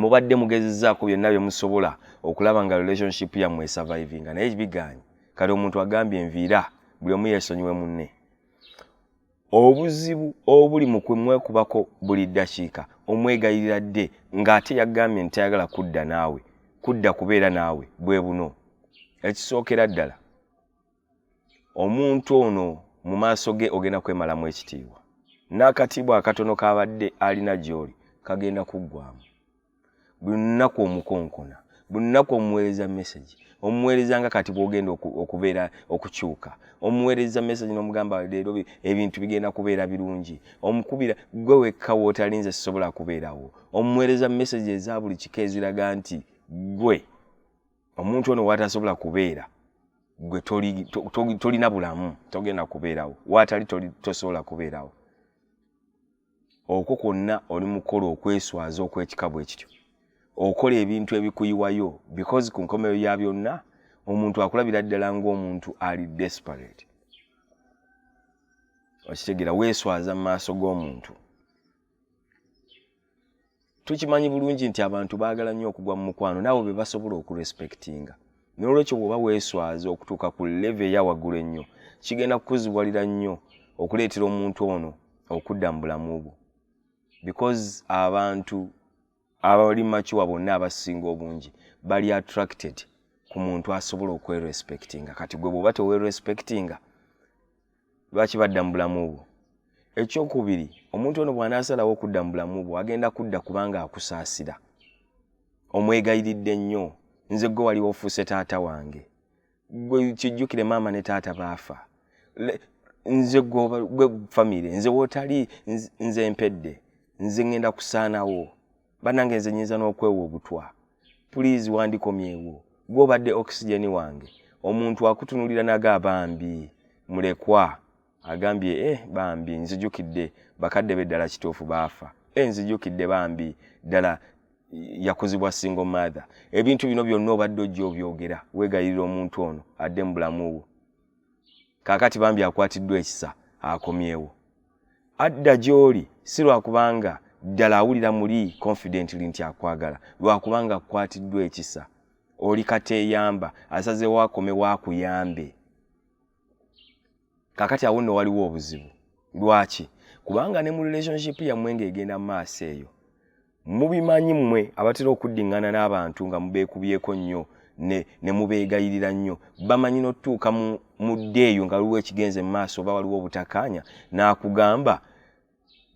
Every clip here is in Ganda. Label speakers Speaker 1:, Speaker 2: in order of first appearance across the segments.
Speaker 1: mubadde mugezezaako byonna bye musobola okulaba nga relationship yammwe esurvivinga naye bigaanyi kati omuntu agambye enviira buli omu yeesonyiwe munne obuzibu obuli mu kumwekubako buli ddakiika omwegayirira dde ng'ate yagambye nti tayagala kudda naawe kudda kubeera naawe bwe buno ekisookera ddala omuntu ono mu maaso ge ogenda kwemalamu ekitiibwa n'akatiibwa akatono kabadde alina gy'oli kagenda kuggwamu buli lunaku omukonkona buli lunaku omuweereza mesagi omuweereza nga kati bwogenda okubeera okukyuka omuweereza mesagi n'omugamba leero ebintu bigenda kubeera birungi omukubira gwe wekka wootalinze sisobola kubeerawo omuweereza mesagi eza buli kika eziraga nti gwe omuntu ono watasobola kubeera gwe tolina bulamu togenda kubeerawo watali tosobola kubeerawo okwo kwonna oli mukola okweswaza okwekikabu ekityo okola ebintu ebikuyiwayo because ku nkomero ya byonna omuntu akulabira ddala ngaomuntu ali desperate okitegera weeswaza mu maaso g'omuntu tukimanyi bulungi nti abantu baagala nnyo okugwa mu mukwano naawe be basobola okurespectinga n'olwekyo bw'oba weeswaza okutuuka ku leve eya waggulu ennyo kigenda kukuzibuwalira nnyo okuleetera omuntu ono okudda mu bulamu bwo because abantu abali makiwa bonna abasinga obungi bali attracted ku muntu asobola okwerespectinga kati gwe bwoba tewerespectinga lwaki badda mu bulamu bwo ekyokubiri omuntu ono bw'anaasalawo okudda mu bulamu bwo agenda kudda kubanga akusaasira omwegayiridde nnyo nze gwe waliwo ofuuse taata wange gwe kijjukire maama ne taata baafa nze gwe famire nze wotali nze mpedde nze ngenda kusaanawo banange nze nyinza n'okwewa obutwa pulizi wandikomyewo gwobadde okisijeni wange omuntu akutunulira naga bambi mulekwa agambye eh bambi nzijukidde bakadde be ddala kituufu baafa eh nzijukidde bambi ddala yakuzibwa single mother ebintu bino byonna obadde ojja obyogera weegayirira omuntu ono adde mu bulamu bwo kaakati bambi akwatiddwa ekisa akomyewo adda gy'oli si lwakubanga ddala awulira muli confidently nti akwagala lwakubanga akukwatiddwa ekisa oli kateeyamba asazeewo akomewo akuyambe kakati awo nno waliwo obuzibu lwaki kubanga ne mu relationship yammwe ng'egenda mu maaso eyo mubimanyi mmwe abatera okuddingana n'abantu nga mubeekubyeko nnyo ne, ne mubeegayirira nnyo bamanyi n'otutuuka mu, mu dde eyo nga waliwo ekigenze mu maaso oba waliwo obutakaanya n'akugamba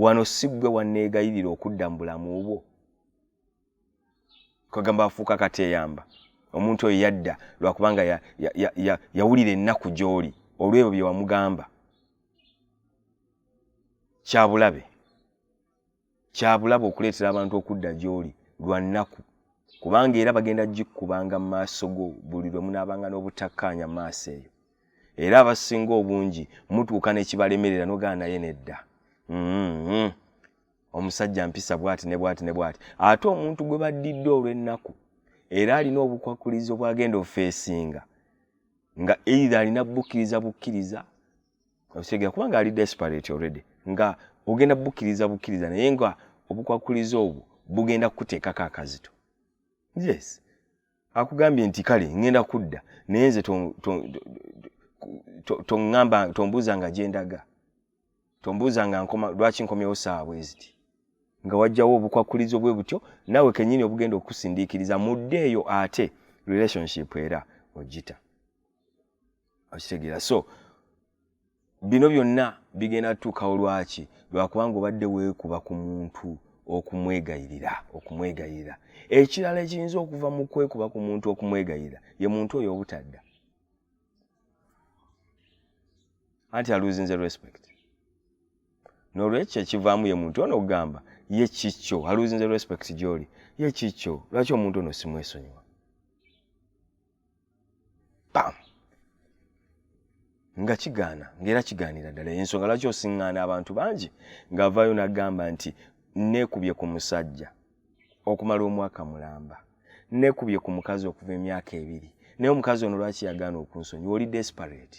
Speaker 1: wano si ggwe wanneegayirira okudda mu bulamu bwo kwegamba afuuka kati eyamba omuntu oyo yadda lwakubanga yawulira ennaku gy'oli olwebyo bye wamugamba kyabulabe kyabulabe okuleetera abantu okudda gy'oli lwa nnaku kubanga era bagenda gikkubanga mu maaso go buli lwe munaabanga n'obutakkaanya mu maaso eyo era abasinga obungi mutuuka nekibalemerera nogaa naye nedda mm-hmm. omusajja mpisa bwati ne bwati ne bwati ate omuntu gwe baddidde olw'ennaku era alina obukwakulizo bwagenda ofeesinga nga eithe alina bukkiriza bukkiriza okitegera kubanga ali desperate already nga ogenda bukkiriza bukkiriza naye nga obukwakuliza obwo bugenda kukuteekako akazito yes akugambye nti kale ŋŋenda kudda naye nze toŋŋamba tombuuza nga gyendaga tombuuza nga nkoma lwaki nkomyewo saawa bweziti nga wajjawo obukwakulizo bwe butyo naawe kenyini obugenda okukusindiikiriza mudde eyo ate relationship era ogita okitegeera so bino byonna bigenda tutuukawo lwaki lwakubanga obadde weekuba ku muntu okumwegayirira okumwegayirira ekirala ekiyinza okuva mu kwekuba ku muntu okumwegayirira ye muntu oyo obutadda anti aluzinze respect nolwekyo ekivaamu ye muntu ono okugamba ye kikyo aluzinze respect gyoli ye kikyo lwaki omuntu ono simwesonyiwa pam nga kigaana ngaera kigaanira ddala ensonga lwaki osiŋŋaana abantu bangi ng'avaayo n'agamba nti neekubye ku musajja okumala omwaka mulamba nekubye ku mukazi okuva emyaka ebiri naye omukazi ono lwaki yagaana okunsonyiwa oli desperate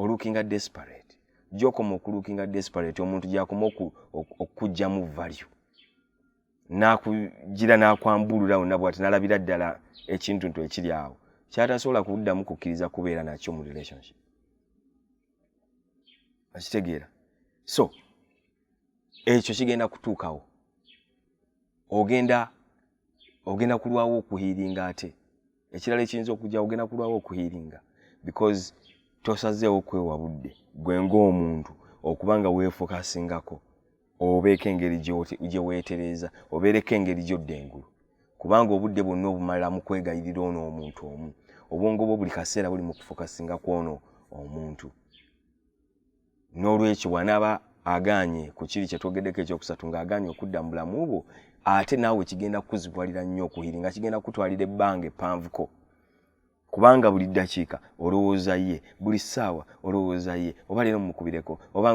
Speaker 1: olukinga desperate gyokoma okulukinga desperate omuntu gyakoma okukugjamu value nakugira nakwambulura wonna bwati nalabira ddala ekintu ntu ekiri awo kyatasobola kuddamu kukkiriza kubeera nakyo mu relationship akitegeera so ekyo kigenda kutuukawo ogenda ogenda kulwawo okuhiiringa ate ekirala ekiyinza okujja ogenda kulwawo okuhiiringa because tosazeewo kwewa budde gwe ng'omuntu okuba nga weefokasingako obeeko engeri gye weetereeza obeereko engeri gyodda engulu kubanga obudde bwonna obumala mu kwegayirira ono omuntu omu obwongo bwo buli kaseera buli mu kufokasinga kwono omuntu n'olwekyo bw'anaaba agaanye ku kiri kye twogeddeko ekyokusatu ng'agaanye okudda mu bulamu bwo ate naawe kigenda kukuzibuwalira nnyo okuhiri nga kigenda kukutwalira ebbanga eppanvuko kubanga buli ddakiika olowooza ye buli ssaawa olowooza ye oba leero mumukubireko oba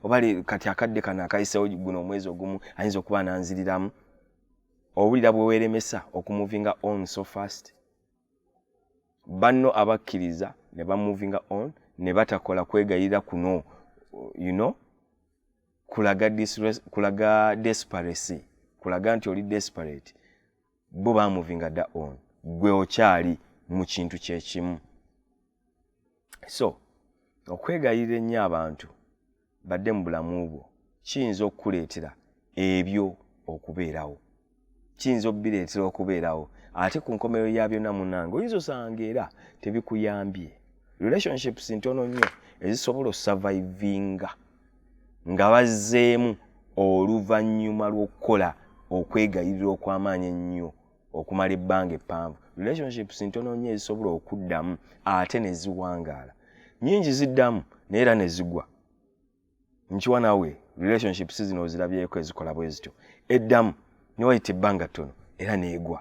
Speaker 1: oba kati akadde kano akayisewo guno omwezi ogumu ayinza okuba ananziriramu owulira bwe weeremesa okumuvinga on so fast banno abakkiriza ne bamovinga on ne batakola kwegayirira kuno you know kulaga kulaga desperacy kulaga nti oli desperate bo bamovinga da on gwe okyali mu kintu kyekimu so okwegayirira ennyo abantu badde mu bulamu bwo kiyinza okukuleetera ebyo okubeerawo kiyinza obireetera okubeerawo ate ku nkomerero ya byonna munange oyinza osanga era tebikuyambye relationships ntono nnyo ezisobola osavivinga nga bazzeemu oluvannyuma lw'okukola okwegayirira okw'amaanyi ennyo okumala ebbanga eppanvu relationships ntono nnyo ezisobola okuddamu ate ne ziwangaala nyingi ziddamu naye era ne zigwa nkiwa nawe relationships zino ozirabyeko ezikola bwe zityo eddamu ne wayita ebbanga ttono era neegwa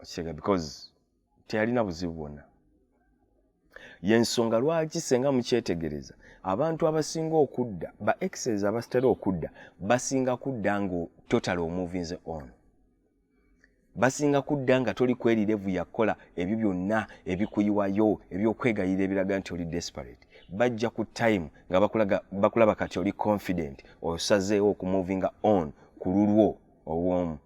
Speaker 1: okitega because teyalina buzibu bwonna yensonga lwaki senga mukyetegereza abantu abasinga okudda ba exes abasitera okudda basinga kudda nga total omovinze on basinga kudda nga toli kwerirevu yakukola ebyo byonna ebikuyiwayo ebyokwegayira ebiraga nti oli desperate bajja ku time nga bakulaba kati oli confident osazeewo okumovinga on ku lulwo obwomu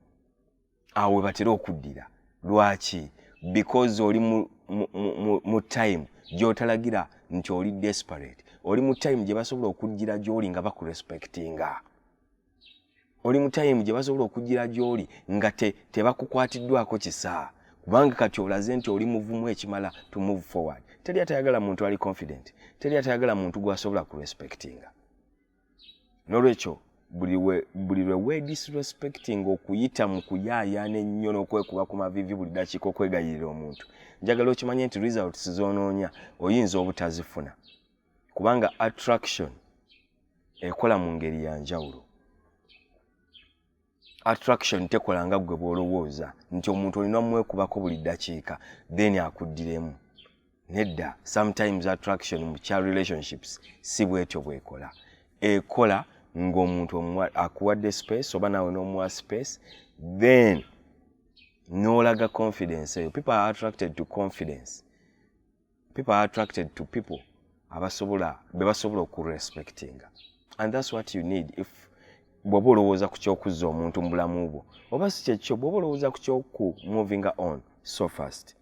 Speaker 1: awo webatera okuddira lwaki because oli mu, mu, mu, mu time gyotalagira nti oli desperate oli mu time gye basobola okujjira gy'oli nga bakurespectinga oli mu time gye basobola okujjira gy'oli nga tebakukwatiddwako te kisa kubanga kati olaze nti oli muvumu ekimala to move forward teri atayagala muntu ali confident teri atayagala muntu gwasobola kurespectinga nolwekyo buli lwe wedisrespecting okuyita mu kuyaayaana ennyo n'okwekuba ku mavivi buli dakiika okwegayirira omuntu njagala okimanye nti results zonoonya oyinza obutazifuna kubanga attraction ekola mu ngeri ya njawulo attraction tekola nga gwe bwolowooza nti omuntu olina omwekubako buli ddakiika then akuddiremu nedda sometimes attraction mu kya relationships si bwetyo bwekola ekola ng'omuntu akuwadde space oba naawe n'omuwa space then n'olaga confidence eyo people are attracted to confidence people are attracted to people abasobola bebasobola okurespectinga and thats what you need if bwoba olowooza ku kyokuzza omuntu mu bulamu bwo oba si kyekyo bwoba olowooza ku kyoku movinga on so fast